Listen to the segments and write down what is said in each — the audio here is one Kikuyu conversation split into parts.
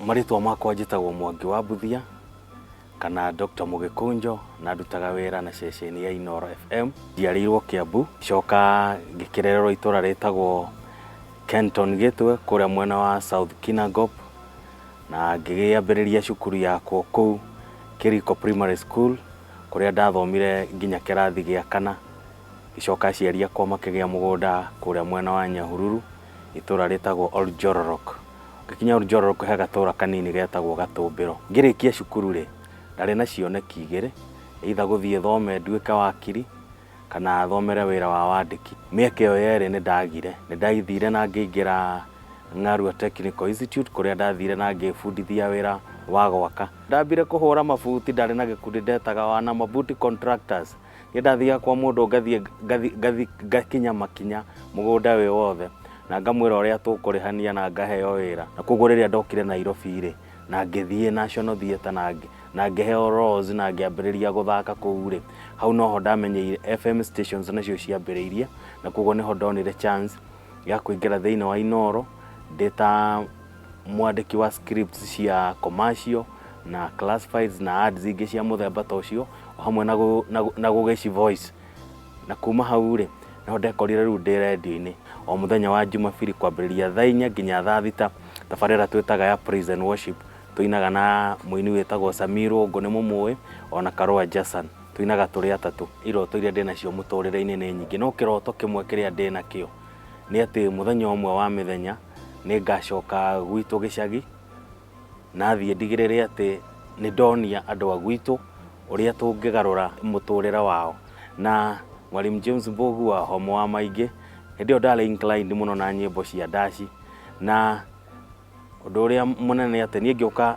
marĩtwa makwa njĩtagwo mwangi wa mbuthia kana dr mũgĩkũnjo na ndutaga wĩra na ceceni ya inoro fm njiarĩirwo kĩambu coka ngĩkĩrererwo itũra rĩtagwo kenton gĩtwe kũrĩa mwena wa south kinagop na ngĩgĩambĩrĩria cukuru yakwo kũu kĩriko primary school kũrĩa ndathomire nginya kĩrathi gĩa kana Agĩcoka aciari akwa makĩgĩa mũgũnda kũrĩa mwena wa Nyahururu, itũũra rĩtagwo Oljororok. Ngĩkinya Oljororok he gatũũra kanini getagwo Gatũmbĩro. Ngĩrĩkia cukuru-rĩ, ndarĩ na cioneki igĩrĩ, either gũthiĩ thome nduĩke wakiri, kana thomere wĩra wa wandĩki. Mĩaka ĩyo yerĩ nĩ ndagire. Nĩ ndathire na ngĩingĩra Ng'arua Technical Institute kũrĩa ndathire na ngĩĩbundithia wĩra wa gwaka. Ndambire kũhũra mabuti ndarĩ na gĩkundi ndetaga Wana Mabuti Contractors. nĩ ndathiaga kwa mũndũ ngathiĩ ngathi- ngathi- ngakinya makinya mũgũnda wĩ wothe na ngamwĩra ũrĩa tũkũrĩhania na ngaheo wĩra na koguo rĩrĩa ndokire nairobi rĩ na ngĩthiĩ national theatre na ngĩ- na ngĩheo rose na ngĩambĩrĩria gũthaka kũu rĩ hau noho ndamenyeire fm stations nacio ciambĩrĩirie na koguo nĩho ndonire chance ya kũingĩra thĩinĩ wa inoro ndĩ ta Mwandĩki wa scripts cia commercial na classifieds na ads ingĩ cia mũthemba ta ũcio o hamwe na gũ- na gũ- na gũgĩci voice na kuma hau rĩ no ndekorire rĩu ndĩ redio-inĩ o mũthenya wa jumabiri kwambĩrĩria thaa inya nginya thaa thita tabarĩra twĩtaga ya praise and worship tũinaga na mũini wĩtagwo samirwo ngũ nĩ mũmũĩ ona karũa jason tũinaga tũrĩ atatũ iroto iria ndĩnacio mũtũrĩre-inĩ nĩ nyingĩ no kĩroto kĩmwe kĩrĩa ndĩnakĩo nĩ atĩ mũthenya ũmwe wa mĩthenya nĩ ngacoka gwitũ gĩcagi na thiĩ ndigĩrĩre atĩ nĩ ndonia andũ a gwitũ ũrĩa tũngĩgarũra mũtũrĩre wao na Mwalimu James Mbugu wa Homo wa Maingĩ hĩndĩ ĩyo ndarĩ inclined mũno na nyĩmbo cia ndaci na ũndũ ũrĩa mũnene nĩ atĩ niĩ ngĩũka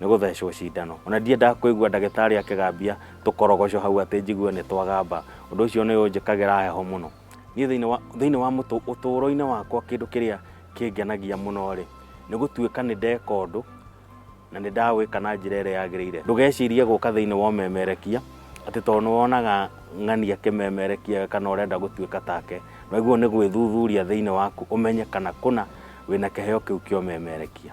nĩ gũthecwo cindano ona ndiendaga kũigua ndagĩtarĩ akĩgambia tũkorogoco hau atĩ njigue nĩ twagamba ũndũ ũcio nĩ ũnjĩkagĩra heho mũno niĩ thĩinĩ wa, thĩinĩ wa mũtũ- ũtũũro-inĩ wakwa kĩndũ kĩrĩa kĩngenagia mũno rĩ nĩ gũtuĩka nĩ ndeka ũndũ na nĩ ndawĩka na njĩra ĩrĩa yagĩrĩire ndũgecirie gũka thĩinĩ wa ũmemerekia atĩ tondũ nĩ wonaga ng'ani akĩmemerekia kana ũrenda gũtuĩka take wagĩrĩirwo nĩ gwĩthuthuria thĩinĩ waku ũmenye kana kũna wĩna kĩheo kĩu kĩa ũmemerekia.